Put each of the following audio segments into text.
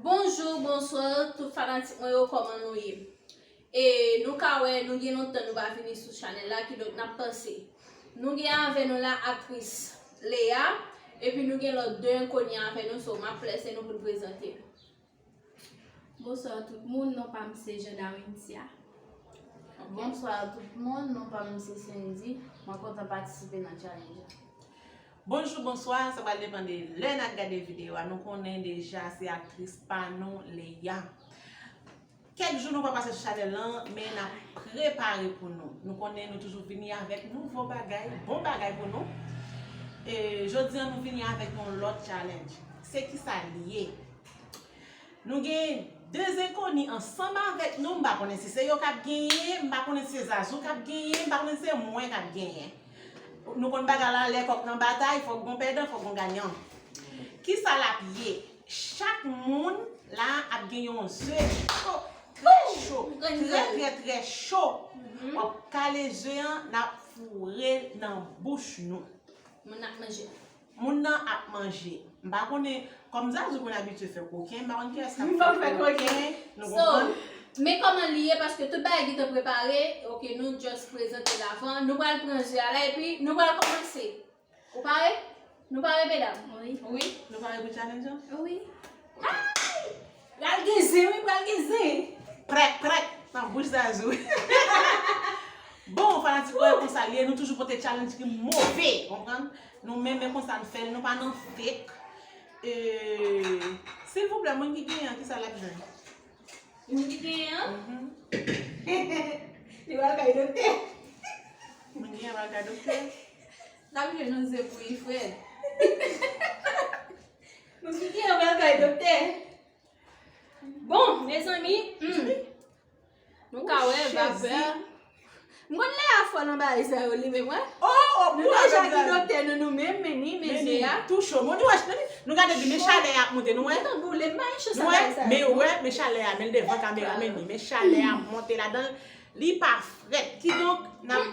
Bonjou bonswa tout fanatik mwen yo koman nou ye E nou ka wè nou gen lontan nou pa vini sou chanèl la ki donk nap pase Nou gen avè nou la aktris Lea epi nou gen lòt 2 enkonni avè nou so map lese nou pou n prezante nou Bonswa tout moun non pa m se Jenarinthia Bonswa tout moun non pa m se Sendy mwen kontan patisipe nan challenge la. Bonjou bonswa sa pral depan de lè nap gade video a nou konnen deja se aktris pa nou Leya kèk jou nou pa pase sou chanèl lan men nap prepare pou nou nou konnen nou toujou vini avèk nouvo bagay bon bagay pou nou e jodi an nou vini avèk yon lòt challenge se kisa li ye nou gen 2 zenkoni ansanm avèk nou m pa konnen si se yo kap genyen m pa konnen si se zazou kap genyen m pa konnen si se mwen kap genyen. Nou konn bagay la, lè kòk nan batay, fòk gon pèdan, fòk gon ganyan. Ki sa l ap ye? Chak moun la ap gen yon ze cho, trè cho, trè trè trè cho. W ap kale ze an, n ap foure l nan bouch nou. Moun ap manje. Moun nan ap manje. M pa konnen, kòm Zazou konn abitye fè koken, m pa konn kiyès k ap fè koken. M pa konn fè koken. Nou konprann? So, men kòman li ye paske tout bagay gentan prepare, ok nou just prezante l avan. Nou pral pran ze a la epi nou pral kòmanse. Ou pare? Nou pare medam? Wi. Wi. Nou pare pou challenge an? Wi. Hi! Pral gen zen wi pral gen zen. Prèk prèk nan bouch Zazou. Bon fanatik mwen konsa liye nou toujou pote challenge ki move konprann nou men men konsa nou fèl nou pa nan fake euh silvouplè moun ki genyen an kisa lap jwenn? Moun ki genyen an? Li pral kay doktè. Moun ki genyen an pral kay doktè. Lap jwenn yon zen pou Ifrèt. M soti anba kay doktè. Bon mezanmi humm Nou ka wè vapè a. M konn lè a fòl anba e sa yo li menm wè. Nou deja gen doktè nou nou menm men ni men je a. Nou gade bi men chalè a ap monte nou wè. Nou wè men ou wè men chalè a men l devan kamera men ni men chalè a ap monte ladan l li pa frèt kidonk nan.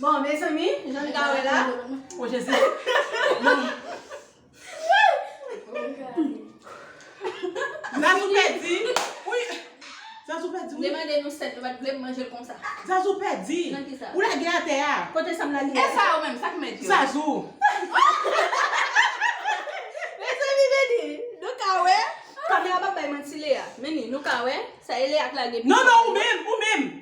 Bon mezanmi jan nou ka wè la. O jezi. Zazou pèdi. Zazou pèdi wi. Demande nou sèl nou pat vle manje l konsa. Zazou pèdi. Nan ki sa. Ou lage atè a. Kote sa m lage a. E sa yo menm sak mèt yo. Zazou. Mezanmi meni nou ka wè. Kamera pap bay manti Lea. Meni nou ka wè sa e Lea k lage. Non non ou menm ou menm.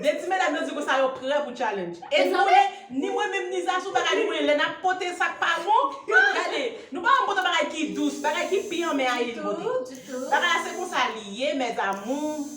De ti medam yo di konsa yo prè pou challenge. E nou konnen, ni mwen menm ni Zazou bagay nou konnen lè nap pote sak pa bon, gade, nou pa janm pote bagay ki dous, bagay ki pi anmè a Yeye ki pote. Bagay la se konsa li ye mes amours.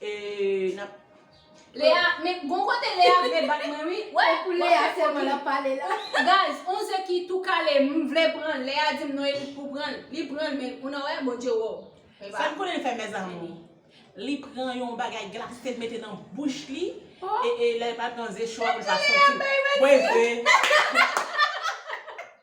Eee nap. Lea men gon kote lea vle bat mwen wi wè Se pou lea selman lap pale la. Guys on ze ki tou kale m vle pranl lea dim non elik pou pranl li pranl men ou nan wè bondye wè w epa. Sam konnen l fè mes amour. Li pran yon bagay glase l mete nan bouch li e e lè l pral pran ze cho a pou l pa santi l. Mwen vre.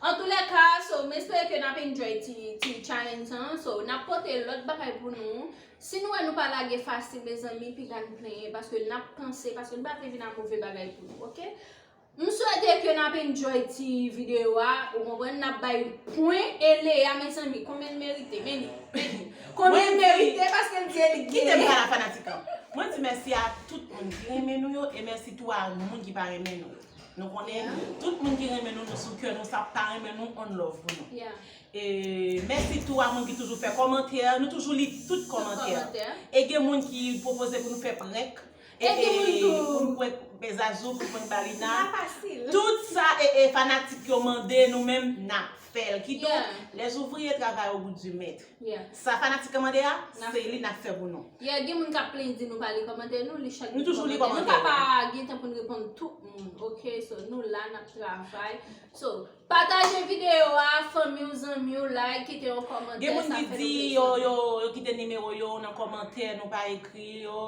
Antoulèka so m espere ke nap enjoy ti ti challenge sa an so nap pote lòt bagay pou nou si nou wè nou pa lage fasil mezanmi piga n plenyen paske nap panse paske nou pa vle vin a move bagay pou nou ok m swete ke nap enjoy ti video a ou konprann nap bay pwen e Lea mezanmi konbyen l merite men li men li konbyen l merite paske l di el gen kite m pale a fanatik lan mwen di mèsi a tout moun ki renmen nou yo e mèsi tou a moun ki pa renmen nou yo. Nou konnen tout moun ki renmen nou nou sou kè nou sa pa renmen nou on love pou nou. E mèsi tou a moun ki toujou fè kòmantè, nou toujou li tout kòmantè. E gen moun ki pwopoze pou nou fè prank. E gen moun tou pou nou prank Pè Zazou, pou nou prank Balina. Tout sa e fanatik yo mande nou menm nap fèl. Kidonk les ouvriers travaillent au gout du maître. Yeah. Sa fanatik an mande a, se li nap fè pou nou. Yeah gen moun kap plenyn di nou pa li kòmantè nou, li chak Nou toujou li kòmantè yo. Nou ka pa gen tan poun reponn tout moun ok so nou la nap travay so pataje video a fanmiw zanmiw like kite yon kòmantè sa fè nou plezi anpil. Gen moun ki di yo yo kite nimewo yo nan kòmantè nou pa ekri yo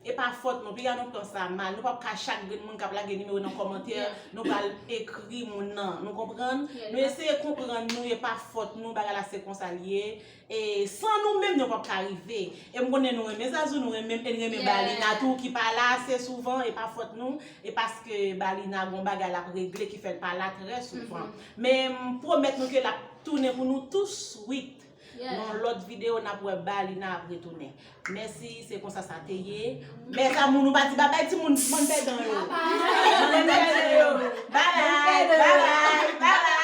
E pa fòt nou, piga nou pran sa mal, nou pap ka chak grenn moun kap lage nimewo nan kòmantè nou pral ekri moun nan, nou konprann, nou eseye konprann nou e pa fòt nou bagay la se konsa li ye, e san nou menm nou pap ka rive, e m konnen nou renmen Zazou nou renmenm e n renmen Balina tou ki pa la ase souvan e pa fòt nou, e paske Balina gon bagay lap regle ki fèl pa la trè souvan, men m pwomèt nou ke lap tounen pou nou tou swit. Nan lot video nap wè balina ap retounen Mèsi se konsa sa te ye Mes amour nou pa di babay ti moun bann pèdan yo Bann pèdan yo Babay babay babay.